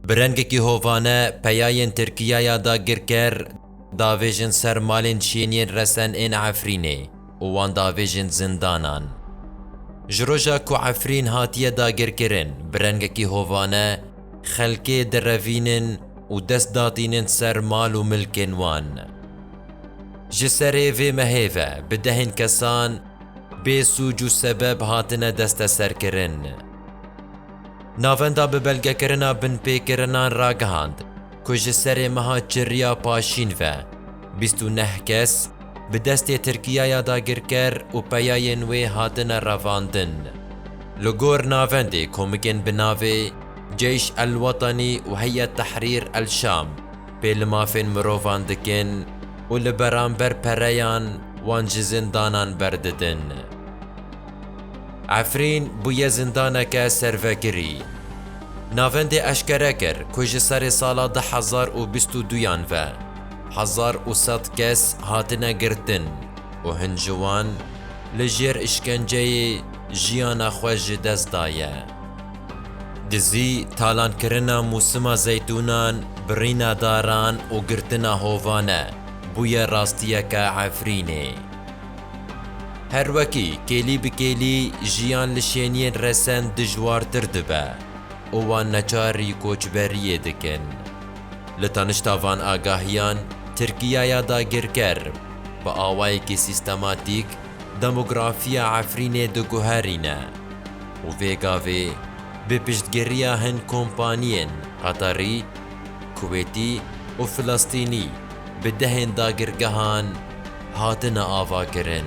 Bi rengekî hovane peyayên Tirkiyaya dagirker davêjin ser malên şêniyên resen ên Efrînê û wan davêjin zindanan. Ji roja ku Efrîn hatiye dagirkirin bi rengekî hovane xelkê direvînin û dest datînin ser mal û milkên wan. Ji serê vê mehê ve bi dehên kesan bê sûc û sebeb hatine desteserkirin. Navenda bi belgekirina binpêkirinan ragihand ku ji serê meha Çirriya Paşîn ve bîst û neh kes bi destê Tirkiyaya dagirker û peyayên wê hatine revandin. Li gor navendê komikên bi navê Ceyş El Wetenî û Heyet Tehrîr El Şam pê li mafên mirovan dikin û li beramber pereyan wan ji zindanan berdidin. Efrîn bûye zindaneke servekirî. Navendê eşkere kir ku ji serê sala du hezar û bîst û duyan ve hezar û sed kes hatine girtin û hin ji wan li jêr îşkenceyê jiyana xwe ji dest daye. Dizî, talankirina mûsima zeytûnan, birîna daran û girtina hovane bûye rastiyeke Efrînê. Her wekî kêlî bi kêlî jiyan li şêniyên resen dijwartir dibe û wan neçarî koçberiyê dikin. Li tanişta van agahiyan Tirkiyaya dagirker bi awayekî sîstematîk demografiya Efrînê diguherîne û vê gavê bi piştgiriya hin kompaniyên Qeterî, Kuwêtî û Filistînî bi dehên dagirgehan, Hatine avakirin.